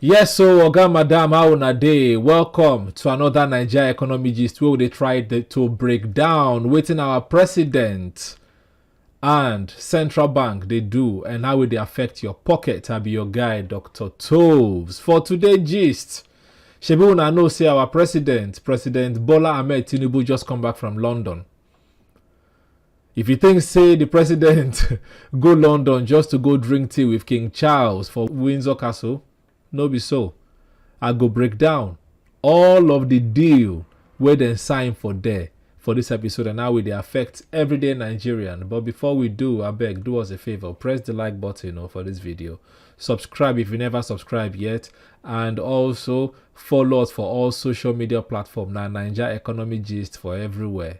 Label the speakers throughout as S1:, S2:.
S1: yes so oga madam how una dey welcome to another naija economy gist wey we dey try dey- to break down wetin our president and central bank dey do and how e dey affect your pocket i be your guy dr toves for today gist shebi una know say our president president bola ahmed tinubu just come back from london If you think say the president go London just to go drink tea with King Charles for Windsor Castle, no be so. I go break down all of the deal wey dem sign for there for this episode and how e dey affect everyday Nigerian. But before we do, abeg do us a favor, press the like button oh, for this video. Subscribe if you never subscribe yet and also follow us for all social media platform na Naija Economy Gist for everywhere.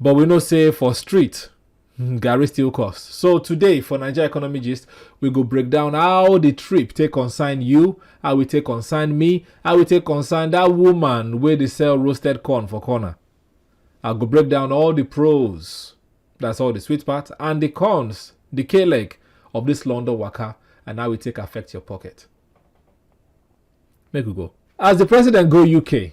S1: But we know say for street, hmm, Gary still cost. So today for Nigeria Economy Gist, we go break down how the trip take concern you, how we take concern me, how we take concern that woman where they sell roasted corn for corner. I go break down all the pros, that's all the sweet part, and the cons, the K leg of this London worker, and how it take affect your pocket. Make we go. As the president go UK,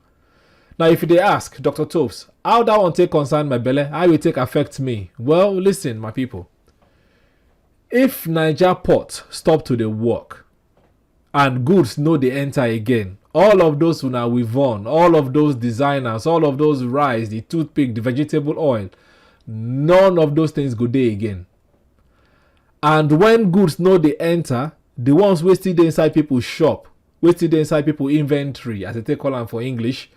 S1: Now, if you dey ask, Dr. Toves, how that one take concern my belle, how it take affect me? Well, listen, my people. If Niger port stop to the work and goods no dey enter again, all of those una we've on, all of those designers, all of those rice, the toothpick, the vegetable oil, none of those things go dey again. And when goods no dey enter, the ones wey still dey inside people shop wetin dey inside people inventory as they take call am for english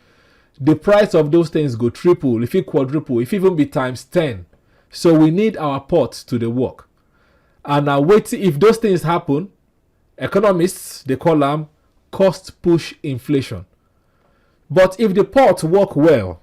S1: the price of those things go triple if it quadruple if even be times 10 so we need our ports to the work and now wait if those things happen economists they call them cost push inflation but if the port work well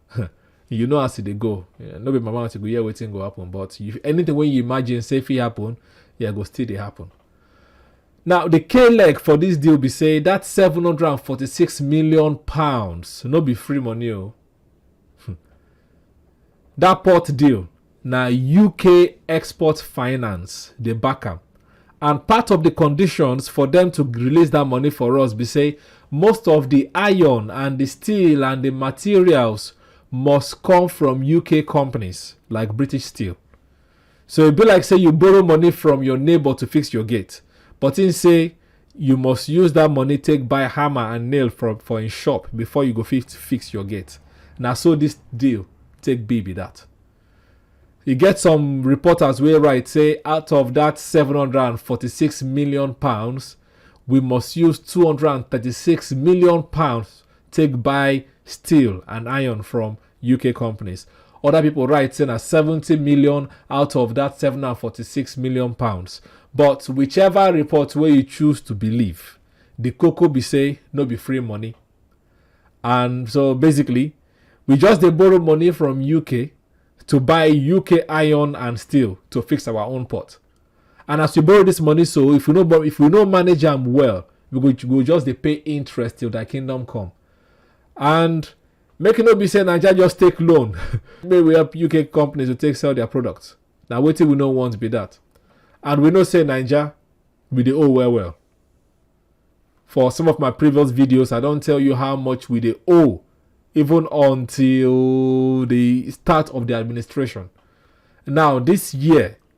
S1: you know as e dey go eh, no be my mouth you go hear wetin go happen but if anything wey you imagine say fit happen yeah go still dey happen now the k leg for this deal be say that 746 million pounds no be free money o oh. hmm. that port deal Na UK Export Finance dey back am and part of di conditions for dem to release dat money for us be say most of di iron and di steel and di materials must come from UK companies like British Steel. So e be like say you borrow money from your neighbour to fix your gate but im say you must use that money take buy hammer and nail from for in shop before you go fit fix your gate Now, so this deal take be be that you get some reporters will write say out of that 746 million pounds we must use 236 million pounds take buy steel and iron from UK companies. Other people write saying na 70 million out of that 746 million pounds. But whichever report where you choose to believe, the cocoa be say no be free money. And so basically, we just they borrow money from UK to buy UK iron and steel to fix our own port. And as we borrow this money, so if we know if we know manage them well, we go, we go just they pay interest till the kingdom come. And make e no be say naija just take loan make we help uk companies to take sell their products na wetin we no want be that and we know say naija we dey owe well well for some of my previous videos i don tell you how much we dey owe even until the start of the administration now this year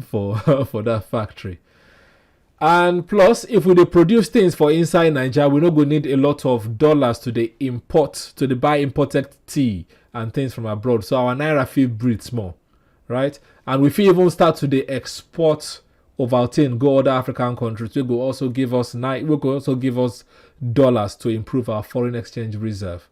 S1: for for that factory and plus if we dey produce things for inside naija we no go need a lot of dollars to dey import to dey buy imported tea and things from abroad so our naira fit breathe small right and we fit even start to dey export ovaltine go other african countries wey go also give us ni- wey go also give us dollars to improve our foreign exchange reserve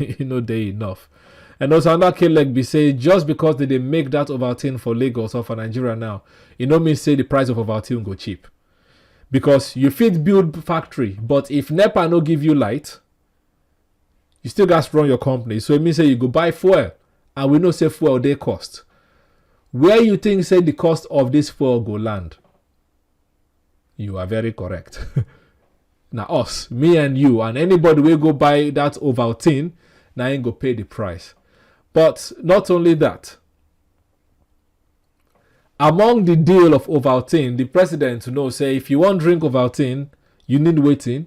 S1: e no dey enough and also another k leg be say just because they dey make that ovaltine for lagos or for nigeria now e no mean say the price of ovaltine go cheap because you fit build factory but if nepa no give you light you still gats run your company so e mean say you go buy fuel and we know say fuel dey cost where you think say the cost of this fuel go land you are very correct na us me and you and anybody wey go buy that ovaltine na im go pay the price but not only that among the deal of ovaltine the president know say if you wan drink ovaltine you need wetin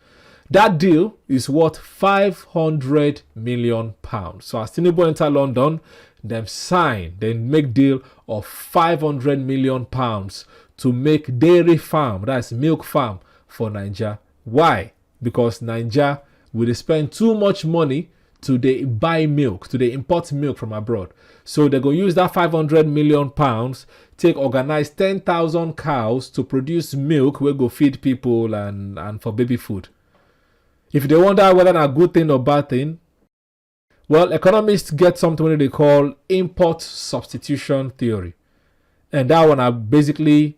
S1: Dat deal is worth £500 million. So as Tinubu enter London, dem sign, dem make deal of £500 million to make dairy farm, that's milk farm for Naija. Why? Because Naija we dey spend too much money to dey buy milk to dey import milk from abroad so they go use that 500 million pounds take organize 10,000 cows to produce milk wey go feed people and and for baby food if you dey wonder whether na good thing or bad thing well economists get something wey they call import substitution theory and that one na basically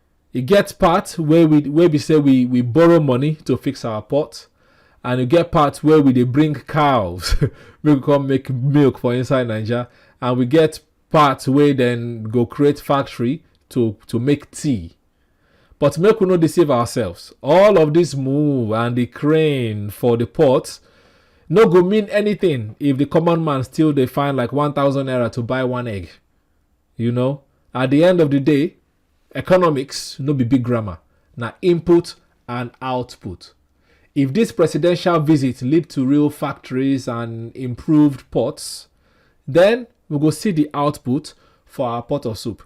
S1: e get part wey we wey be say we we borrow money to fix our pot and e get part wey we dey bring cows make we come make milk for inside naija and we get part wey dem go create factory to to make tea but make we no deceive ourselves all of this move and the crane for the pot no go mean anything if the common man still dey find like 1000 naira to buy one egg you know at the end of the day Economics no be big grammar, na input and output. If this presidential visit lead to real factories and improved ports, then we go see the output for our pot of soup.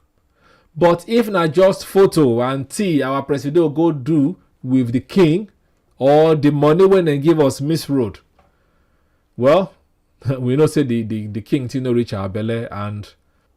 S1: But if na just photo and tea our presido go do with the king or the money when they give us miss road, well, we know say the, the, the king thing no reach our belly and